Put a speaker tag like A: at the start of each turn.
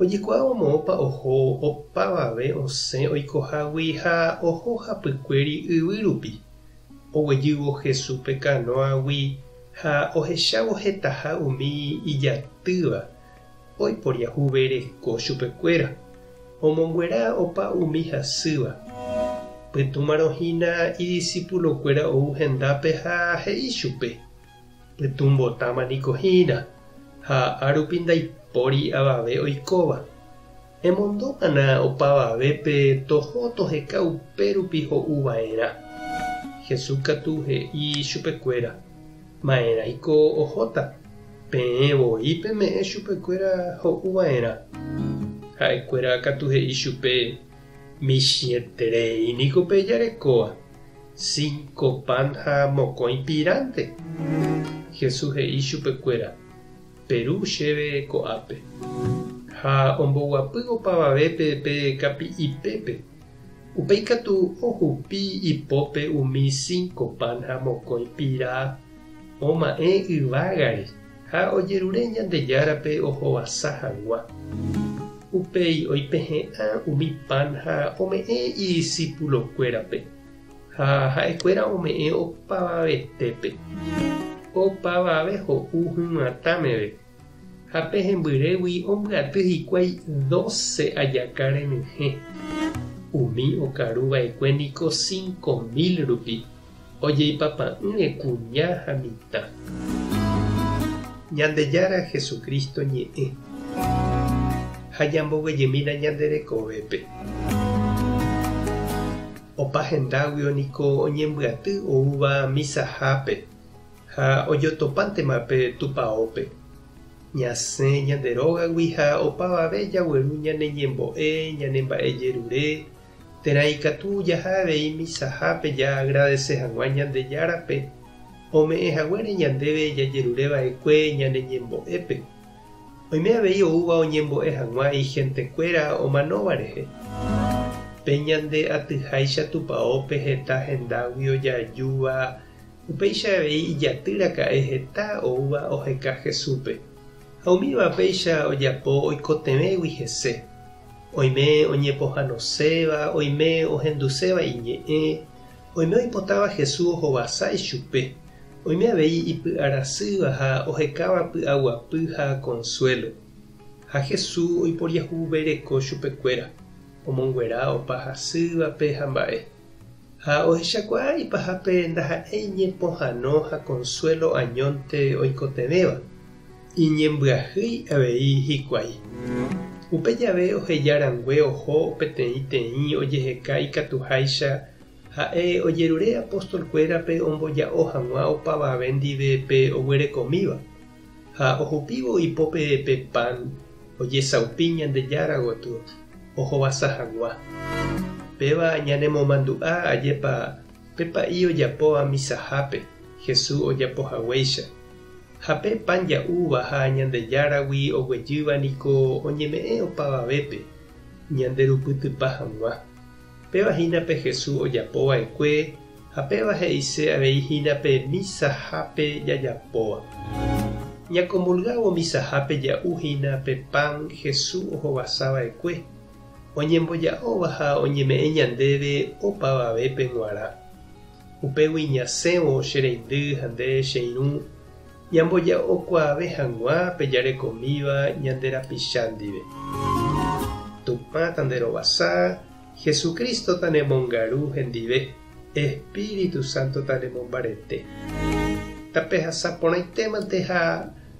A: Ojekuaávo moõpa oho opavave osẽ oikohágui ha oho hapykuéri yvy rupi. Oguejývo Jesúspe kanóagui ha ohechávo hetaha umi ijatýva oiporiahuvereko chupekuéra, omombyera opa umi hasýva. Pytũmarõ hína idisipulokuéra ou hendápe ha he'i chupe, Pytũmbotáma niko hína, ha árupi ndaipóri avave oikóva. Emondómana opavavépe toho toheka upérupi ho'uva'erã. Jesús katu he'i chupekuéra, Ma'erãiko ohóta, peẽ voi peme'ẽ chupekuéra ho'uva'erã. Ha'ekuéra katu he'i chupe, Michĩeterei niko pejarekóva. Cinco pan ha mokõi pirãnte. Jesús he'i chupekuéra, Peru chéve ko'ápe. Ha omboguapy opavavépe pe kapi'ipépe. Upéi katu ohupi ipópe umi cinco pan ha mokõi pira oma'ẽ yvágare. Ha ojerure Ñandejárape ohovasa hagua. Upéi oipehe'ã umi pan ha ome'ẽ idisipulokuérape, ha ha'ekuéra ome'ẽ opavavetépe. Opavave ho'u hyatã meve, ha pe hembyrégui ombyaty hikuái doce ajaka renyhẽ. Umi okaruva'ekue niko cinco mil rupi. Ojeipapa'ỹre kuña ha mitã. Ñandejára Jesucristo ñe'ẽ. Ha ñamboguejemína ñande rekovépe. Opa hendáguio niko oñembyaty oúva misahápe ha ojotopántema pe tupaópe. Ñasẽ ñande rógagui ha opavave jagueru ñane ñembo'e, ñane mba'e jerure, Térã ikatu jaha avei misahápe jaagradese hag̃ua Ñandejárape ome'ẽ haguére ñandéve jajerure va'ekue ñane ñembo'épe. Oime avei oúva oñembo'e hag̃ua igentekuéra omanóva rehe. Pe ñande atyháicha tupaópe heta hendágui ojaajúva, upéicha avei ijaty raka'e heta oúva oheka Jesúspe. Ha umíva péicha ojapo oikotevẽgui hese. Oime oñepohanoséva, oime ohenduséva iñe'ẽ, oime oipotáva Jesús ohovasa ichupe, oime avei ipy'arasýva ha ohekáva py'aguapy ha konsuélo. Ha Jesús oiporiahuvereko chupekuéra, omonguera opa hasývape ha mba'e. Ha ohechakuaa ipahápe ndaha'éi ñepohano ha konsuélo añónte oikotevẽva. Iñembyahýi avei hikuái. Upe jave oheja rangue oho peteĩ teĩ ojeheka ikatuháicha ha'e ojerure apóstolkuérape omboja'o hag̃ua opavave ndive pe oguerekomíva, ha ohupívo ipópe pe pan ojesaupi Ñandejára gotyo ohovasa hag̃ua. Péva ñanemomandu'a ajépa pe pa'i ojapo amisahápe Jesús ojapo haguéicha. Ha pe pan ja'úva ha Ñandejáragui oguejýva niko oñeme'ẽ opavavépe, ñanderupytypa hag̃ua. Péva hína pe Jesús ojapo va'ekue, ha péva he'ise avei hína pe misahápe jajapóva. Ñakomulgávo misahápe ja'u hína pe pan Jesús ohovasa va'ekue, oñemboja'óva ha oñeme'ẽ ñandéve opavavépe g̃uarã. Upégui ñasẽvo che reindy ha nde che irũ, ñamboja'okuaave hag̃ua pe jarekomíva ñande rapicha ndive. Tupã tanderovasa, Jesucristo tanemongaru hendive, Espíritu Santo tanemombarete. Tapehasa porãitémante ha